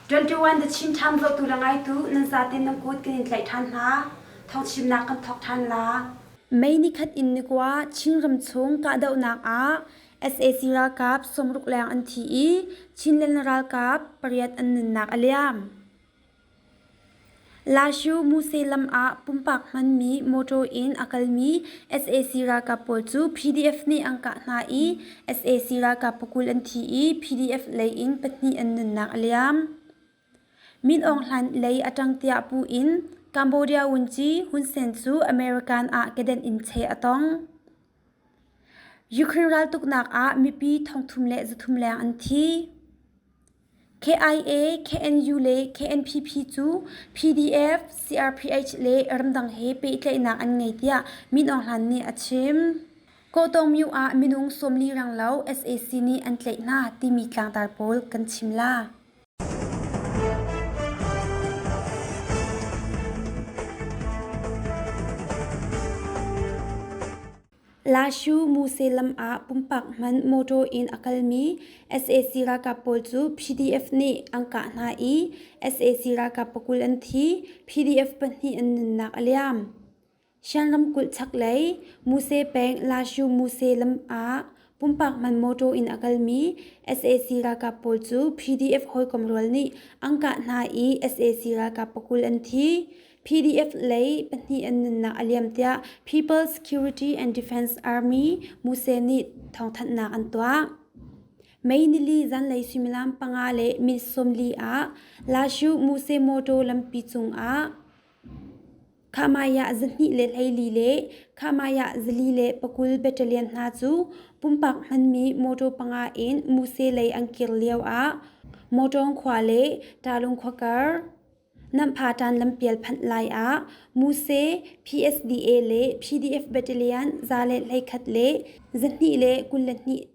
21 the Chin Town lo tu la ngai tu nan za tin nan kut kan in tlai than hna thong chim nak kan thok than la mei ni khat in ni kwa Chin ram chung ka do nak a sac ralkap sawmruk leng an thi i chinland ralkap pariat an nunnak a liam lashu muse lam ah pumpak hmanmi motor in a kalmi sac ralkap pawl cu pdf nih an kah hna i sac ralkap pakul an thi i pdf lei in pahnih an nunnak a liam min aung hlan lei a ṭang tiah pu in cambodia wunci hun sen cu american ah kedenh in cheh a tong Ukraine raltuknak ah mipi thongthum le zathum leng an thi. KIA, KNU le KNPP cu PDF, CRPH le ramdang he pehtlaihnak an ngei tiah Min Aung Hlain nih a chim. Kawhtawngmyu ah minung sawmli ranglo SAC nih an tlaih hna timi tlangtar pawl kan chim la. Lashu Muse lam ah pumpak hman motor in a kalmi sac ralkap pawl cu PDF nih an kah hna i sac ralkap pakul an thi, PDF pahnih an nunnak a liam. Shan lamkulh chak lei Muse peng Lashu Muse lam ah pumpak man mawṭaw in a kalmi sac ralkap pawl cu PDF hawikom rual nih an kah hna i sac ralkap pakul an thi. PDF lei pahnih an nunnak a liam tiah People's Security and Defense Army Muse nih thawngthanhnak an tuah. Mei nili zanlei suimilam panga le minute sawmli ah Lashu Muse mawṭaw lampi cung ah Khamaiah zahnih le hleili le Khamaiah zali le pakul battalion hna cu pumpak hmanmi motor panga in Muse lei an kir lioah Motawng khua le Talung khua kar Namhpatan lampial phanh laiah Muse PSDA le PDF battalion za le hlei khat le zahnih le kul le hnih.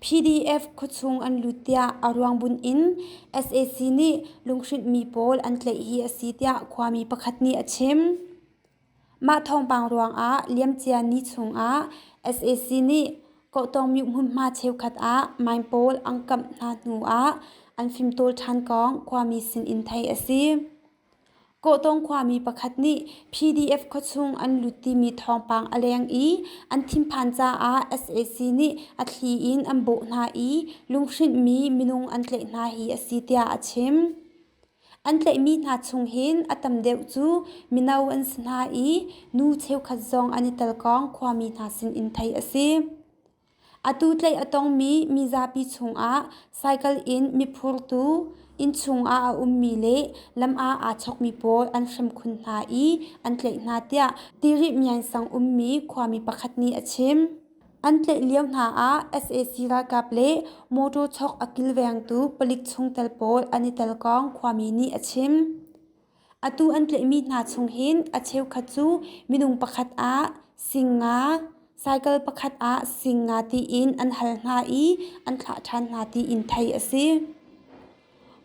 PDF khuachung an lut tiah a ruangbunh in sac nih lunghrinhmi pawl an tlaih hi a si tiah khuami pakhat nih a chim. Mah thawngpang ruangah liamcia ni chungah sac nih Kohtawmyuk hmunhma cheukhat ah mine pawl an kamh hna hnuah an fimtawl ṭhan kong khuami sin in theih a si. Kawhtawng khuami pakhat nih PDF khuachung an lut timi thawngpang a leng i an thinphan caah sac nih a thli in an bawh hna i lunghrinhmi minung an tlaih hna hi a si tiah a chim. An tlaihmi hna chung hin a tam deuh cu mino an si hna i nu cheukhat zong an i telkawng khuami hna sin in theih a si. Atu tlaih a tongmi mizapi chungah cycle in miphurtu, innchung ah a ummi le lam ah aa chawkmi pawl an hrem khun hna i an tlaih hna tiah tirih miansang ummi khuami pakhat nih a chim. An tlaih lio hna ah sac ralkap le motor chawk a kilvengtu palik chungtel pawl an i tel kong khuami nih a chim. Atu an tlaihmi hna chung hin a cheukhat cu minung pakhat ah sing nga, cycle pakhat ah sing nga tiin an hal hna i an thlah ṭhan hna tiin theih a si.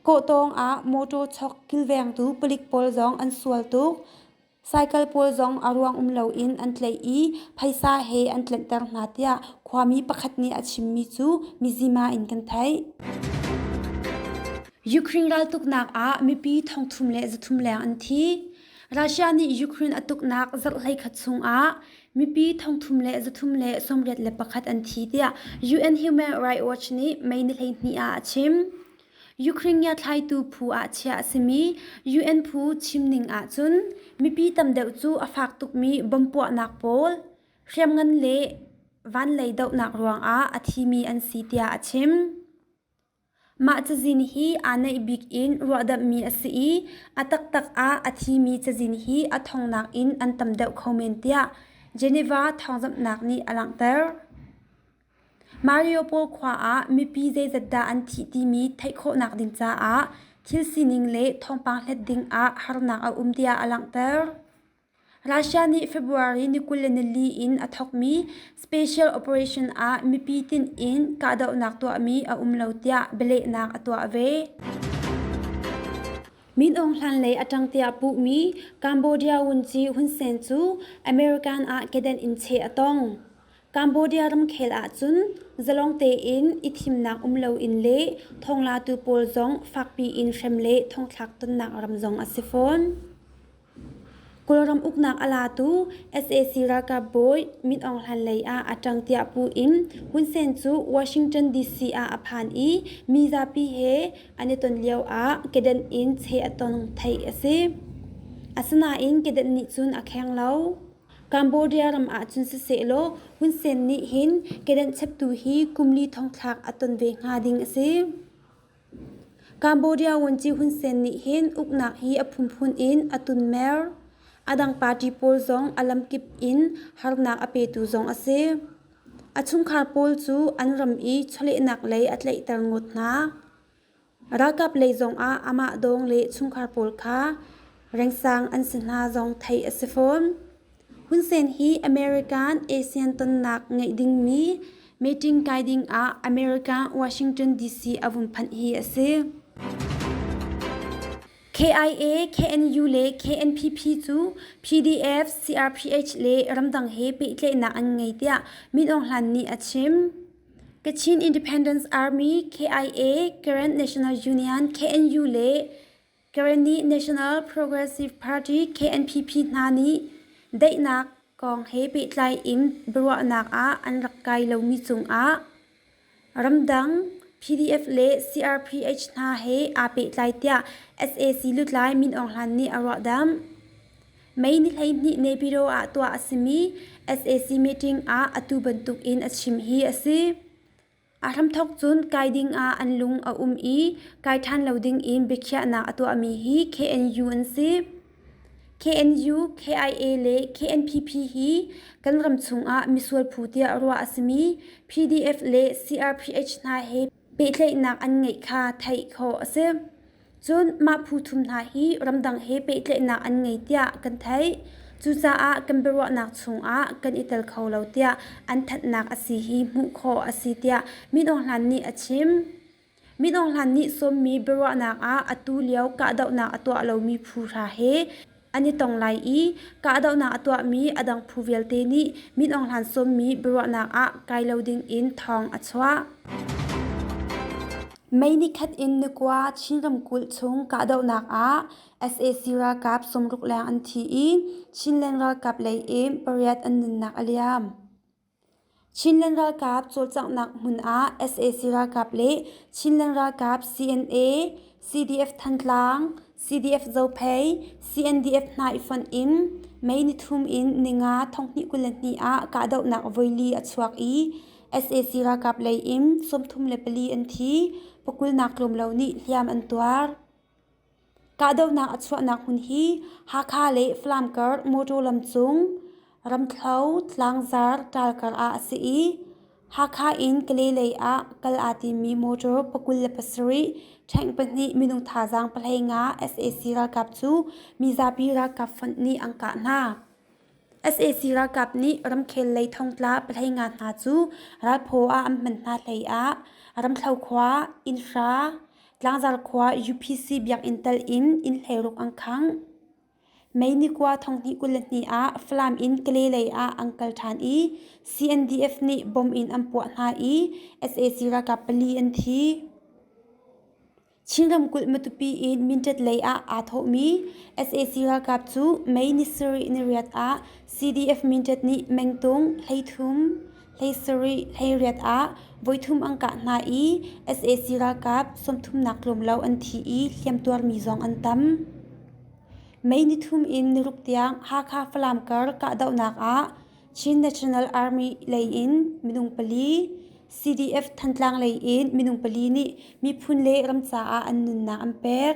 Kawhtawng ah mawṭaw chawk kilvengtu palik pawl zong an sual tuk. Cycle pawl zong a ruang um loin an tlaih i phaisa he an tlanhter hna tiah khuami pakhat nih a chimmi cu mizima in kan theih. Ukraine raltuknak ah mipi thongthum le zathum leng an thi. Russia nih Ukraine a tuknak zarh hleikhat chungah mipi thongthum le zathum le sawmriat le pakhat an thi tiah UN Human Rights Watch nih Mei ni hleihnih ah a chim. Ukraine ngiathlaitu phu ah chiah a simi UN phu chimning ahcun mipi tam deuh cu a fak tukmi bom puahnak pawl, hriamngan le vanlei dohnak ruangah a thimi an si tiah a chim. Mah cazin hi aa naih bik in ruahdamhmi a si i a taktak ah a thimi cazin hi a thongnak in an tam deuh kho men tiah Geneva thawngzamhnak nih a langhter. Mariupol khua ah mipi zeizat dah an thih timi theih khawhnak ding caah thil sining le thawngpang hlet ding ah harnak a um tiah a langhter. Russia nih February ni kul le nili in a thawkmi special operation ah mipi tinh in kahdohnak tuahmi a um lo tiah bialehnak a tuah ve. Min Aung Hlan lei a ṭang tiah puhmi Cambodia wunci hun sen cu American ah kedenh in cheh a tong. Cambodia ramkhel ahcun zalong tein i thimnak um loin le thonglatu pawl zong fakpi in hrem le thongthlak tonnak ram zong a si fawn. Kawlram uknak a latu sac ralkap bawi Min Aung Hlain lei ah a ṭang tiah pu in Hun Sen cu Washington DC ah a phan i mi zapi he an i ton lio ah kedenh in cheh a tong theih a si. Asinain kedenh nih cun a kheng lo. Cambodia ram ah cun sisehlaw Hun Sen nih hin kedenh cheptu hi kum li thong thlak a ton ve hnga ding a si. Cambodia Vuanci Hun Sen nih hin uknak hi a phunphun in a tunmer, a dang party pawl zong a lamkip in harnak a petu zong a si. A chungkhar pawl cu an ram i chawlehnak lei a tlaihter ngawt hna. Ralkap lei zongah amah dawng le chungkhar pawl kha rengsang an si hna zong theih a si fawn. Hun Sen hi American ASEAN tonnak ngeih dingmi meeting kai dingah America Washington DC a vun phanh hi a si. KIA, KNU le KNPP cu PDF, CRPH le ramdang he pehtlaihnak an ngei tiah Min Aung Hlain nih a chim. Kachin Independence Army KIA, Current National Union KNU le Karenni National Progressive Party KNPP hna nih daihnak kong he pehtlai in biaruahnak ah an rak kai lomi cungah ramdang PDF le CRPH hna he aa pehtlai tiah sac lutlai Min Aung Hlain nih a ruahdamh. May ni hleihnih Nepiro ah tuah a simi SAC meeting ah atu bantuk in a chim hi a si. A hramthawk cun kai ding ah an lung a um i kai ṭhan lo ding in biakhiahnak a tuahmi hi KNU an si. KNU, KIA le KNPP hi kan ram chungah misual phu tiah ruah a simi PDF le CRPH hna he pehtlaihnak an ngeih kha theih khawh a si. Cun mah phu thum hna hi ramdang he pehtlaihnak an ngei tiah kan theih. Cucaah kan biaruahnak chungah kan i tel kho lo tiah an thatnak a si hi hmuh khawh a si tiah Min Aung Hlain nih a chim. Min Aung Hlain nih sawmmi biaruahnak ah atu lio kahdohnak a tuah lomi phu hra he an i tong lai i kahdohnak a tuahmi a dang phu vialte nih min aung hlan sawmmi biaruahnak ah kai lo dingin thawng a chuah. Mei nikhat in Nukwa Chin ramkulh chung kahdohnak ah sac ralkap sumruk leng an thi i Chinland ralkap lei in pariat an nunnak a liam. Chinland ralkap cawlcanghnak hmun ah sac ralkap le Chinland ralkap CNA, CDF Thantlang, CDF Zophei, CNDF hna i fonh in May nithum in ninga thonghnih kul le hnih ah kahdohnak voili a chuak i sac ralkap lei in sawmthum le pali an thi, pakulnak tlawmlo nih hliam an tuar. Kahdohnak a chuahnak hmun hi Hakha le Falam kar mawṭaw lamcung, Ramthlo, Tlangzar ṭal kar ah a si i Hakha in Kalay lei ah kal aa timmi mawṭaw pakul le pasarih, tank pahnih minung thazaang pahlei nga sac ralkap cu mizapi ralkap fund nih an kah hna. sac ralkap nih ramkhel lei thongtla pathei nga hna cu ralphaw ah an hman hna hleiah ramthlo khua innhra tlangzar khua upc biakinn tal in inn hleiruk an khang mei nikua thonghnih kul le hnih ah falam in kale lei ah an kal ṭhan i cndf nih bom in an puah hna i sac ralkap pali an thi Chin ramkulh Matupi in Mindat lei ah aa thawhmi sac ralkap cu May ni sarih niriat ah CDF Mindat nih mengtung, hleithum, hleisarih, hleiriat ah voithum an kah hna i sac ralkap sawmthumnak tlawmlo an thi i hliamtuarmi zong an tam. May ni thum in niruk tiang Hakha Falam kar kahdohnak ah Chin National Army lei in minung pali, CDF Thantlang lei in minung pali nih miphun le ram caah an nunnak an pek.